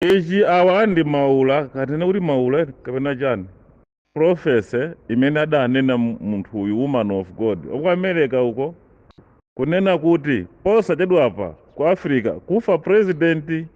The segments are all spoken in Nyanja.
Ichi awa ndi maula kutanena kuti maula kapena chani prophecy imene adanena munthu uyu woman of God waku America uko kunena kuti posachedwapa ku Africa kufa president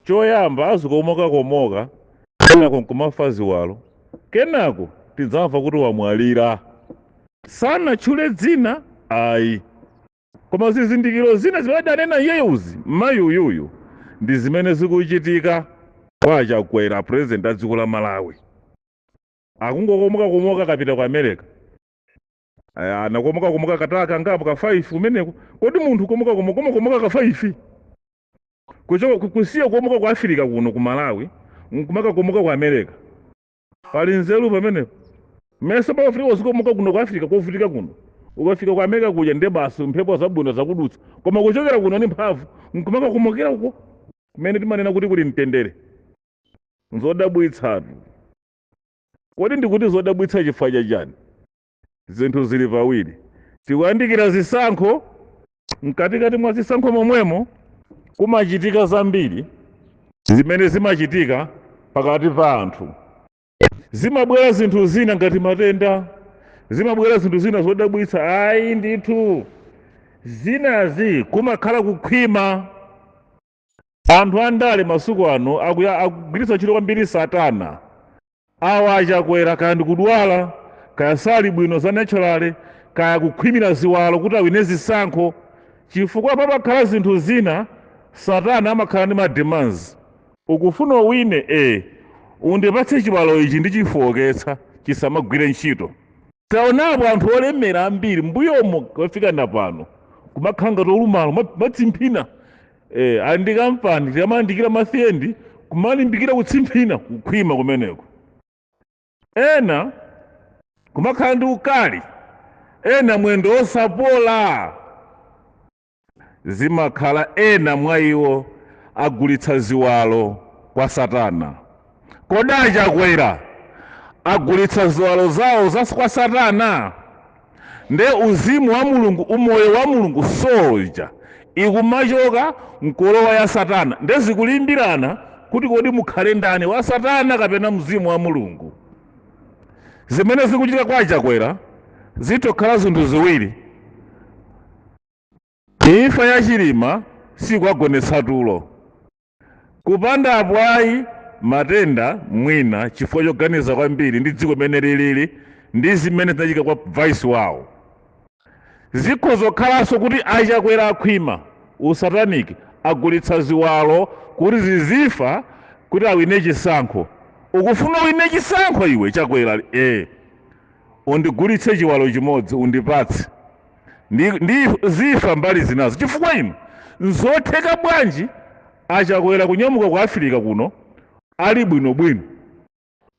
choyamba azikomoka komoka kenako nkumafa ziwalo kenako tidzamva kuti wamwalira sanatchule dzina ayi. koma zizindikiro zina zimene adanena iyeyuzi mayi uyuyu ndi zimene zikuchitika kwa achakwera president a dziko la malawi akungokomokakomoka akapita ku america anakomokakomoka katala kangapo ka 5 kumeneko kodi munthu komokakomoka ka 5 kusiya kukomoka ku afirika kuno ku malawi nkumakakomoka ku america pali nzeru pamenepo mesa pamafunika uzikomoka kuno ku africa kovutika kuno ukafika ku america kuja nde basi mphepo zabwino zakudutsa koma kuchokera kuno ni mphamvu nkumakakomokera uko kumene timanena kuti kuli mtendere nzodabwitsatu kodi ndikuti zodabwitsa chifukwa chachani Zinthu zili pawiri. Tikuyandikira zisankho, mkatikati mwa zisankho momwemo kumachitika zambiri zimene zimachitika pakati pa anthu. Zimabwera zinthu zina ngati matenda, zimabwera zinthu zina zodabwitsa. Ayi ndithu, zinazi kumakhala kukhwima. anthu andale masuku ano akuya- akugwiritsa ntchito kwambiri satana awa achakwera kaya ndikudwala kaya sali bwino za naturally kaya kukhwimira ziwalo kuti awine zisankho chifukwa pamakhala zinthu zina satana amakhala ndi mademands ukufuna uwine e undipatse chiwalo ichi ndichifowoketsa chisamagwire ntchito taonapo anthu olemera ambiri mbuyomo kafika na pano kumakhala ngati olumala amatsimphina ali ndi kampani timalandikira ma salary kumalimbikira kutsimphina kukhwima kumeneko ena kumakhala ndi ukali ena mwendo osapola zimakhala ena mwa iwo agulitsa ziwalo kwa satana. Kodi a Chakwera agulitsa ziwalo zawo kwa satana? Nde uzimu wa Mulungu umoyo wa Mulungu soul ija ikumachoka mkulowa ya satana nde zikulimbirana kuti kodi mukhale ndani wa satana kapena mzimu wa Mulungu. Zimene zikuchitika kwa a Chakwera zitha kukhala zinthu ziwiri. Imfa ya Chilima sikwagonetsa tulo. Kupanda apo ayi matenda mwina chifukwa choganiza kwambiri ndi dziko mmene lilili ndi zimene zinachitika kwa vice wawo. Zikhoza kukhalanso kuti a Chakwera akhwima usataniki agulitsa ziwalo kuti zizifa kuti awine chisankho. Ukufuna uwine chisankho iwe Chakwera? Ee. Undigulitse chiwalo chimodzi undipatse. ndi, ndi zifa mbali zinazo chifukwa inu nzotheka bwanji achakwera kunyamuka ku afirika kuno ali bwinobwino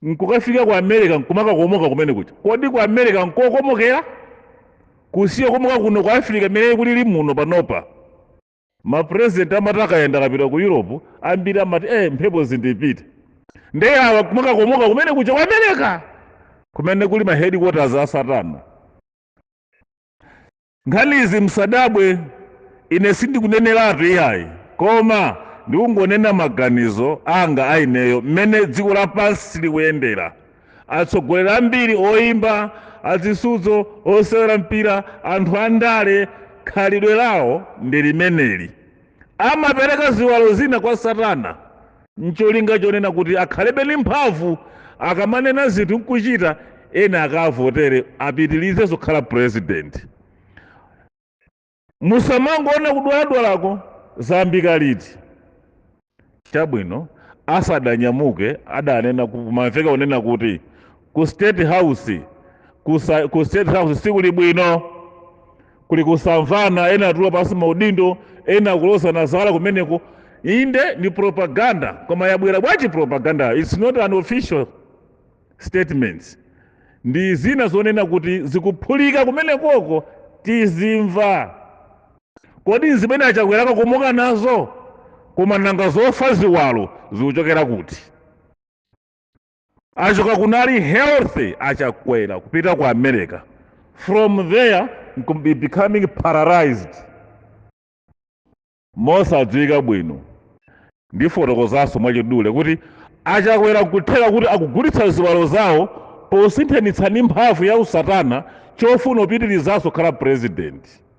nkukafika ku america nkumakakomoka kumene kuja kodi ku america nkokomokera kusiya kukomoka kuno ku afirika mmene kulili muno panopa mapurezidenti amati akayenda akapita ku europe ambiri amati eh, mphepo zindipite nde awa kumakakomoka kumene kuja ku america kumene kuli ma headquarters a satana nkhanizi msadabwe ine sindikuneneratu iyayi koma ndikungonena maganizo anga aineyo mmene dziko lapansi likuyendera atsogoleri ambiri oyimba azisudzo osewera mpira anthu andale khalidwe lawo ndi limeneli Amapereka ziwalo zina kwa Satana n'cholinga chonena kuti akhalebe ndi mphamvu akamanena zinthu n'kuchita, ena akaavotere apitirizenso kukhala pulezidenti. Musamangoona kudwaladwalako zayambika liti. Chabwino, asadanyamuke adanena ku- kumamveka kunena kuti ku state house kusa, ku state house sikuli bwino kuli kusamvana ena atula pansi maudindo ena akulozana zala kumeneko inde ndi propaganda koma yabwera bwanji propaganda its not an official statement ndi zina zonena kuti zikuphulika kumenekoko tizimva Kodi nzimene a Chakwera akakomoka nazo? Koma nanga zofa ziwalo zikuchokera kuti? Achoka kuno ali healthy a Chakwera kupita ku America. From there nkum- be- becoming paralyzed. Mosadziwika bwino. ndifotokozanso mwachidule kuti achakwera nkutheka kuti akugulitsa ziwalo zawo posinthanitsa ndi mphamvu ya usatana chofuna kupitirizanso kukhala purezidenti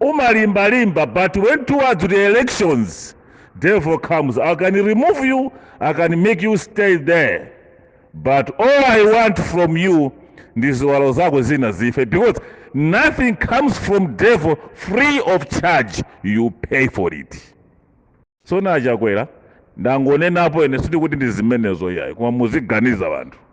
umalimbalimba but when towards the elections devil comes i can remove you i can make you stay there but all i want from you ndi ziwalo zako zina zife because nothing comes from devil free of charge you pay for it so nachakwera ndangonenapo ine sindikuti ndi zimenezo iyayi koma muziganiza anthu